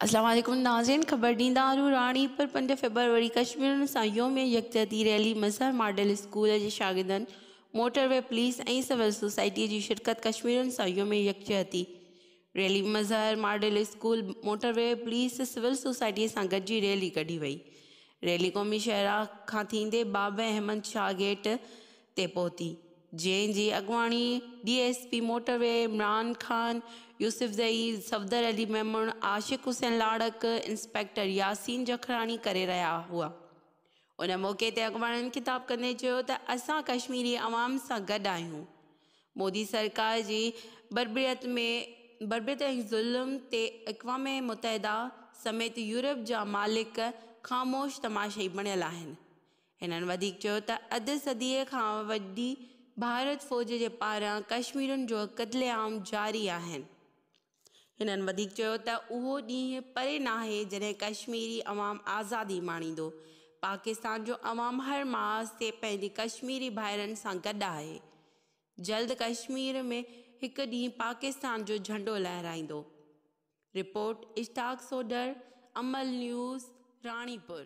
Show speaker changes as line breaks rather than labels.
السلام عليڪم ناظرين خبر ڏيندا آهيون راڻي پر پنج فيبروري ڪشميرن سان يوم يڪجهتي ريلي مظهر ماڊل اسڪول جي شاگردن motorway police ۽ civil society جي شرڪت ڪشميرن سان يوم يڪجهتي rally Mazhar model school, motorway, police, civil سوسائٽيء سان گڏجي ريلي ڪڍي وئي. ريلي قومي شاهراهه کان ٿيندي بابه احمد شاهه گيٽ تي پهتي، جنهن جي اڳواڻي D S P motorway Imran Khan, Yousafzai, Safdar Ali Memon, Ashiq Hussain Larik, inspector Yasin Jakhrani ڪري رهيا هئا. ان موقعي تي اڳواڻن خطاب ڪندي چيو ته اسان ڪشميري عوام سان گڏ آهيون، مودي سرڪار جي بربريت ۾ بربريت ۽ ظلم تي اقوام متحده سميت يورپ جا مالڪ خاموش تماشائي بڻيل آهن. هنن وڌيڪ چيو ته اڌ صديء کان وڏي ڀارت فوج جي پاران ڪشميرين جو قتل عام جاري آهن، هنن وڌيڪ چيو ته اهو ڏينهن پري ناهي جڏهن ڪشميري عوام آزادي ماڻيندو، پاڪستان جو عوام هر محاذ تي پنهنجي ڪشميري ڀائرن سان گڏ آهي، جلد ڪشمير ۾ هڪ ڏينهن پاڪستان جو جهنڊو لهرائيندو. Report, Ishtiaq Sodhar, Amal news, Ranipur.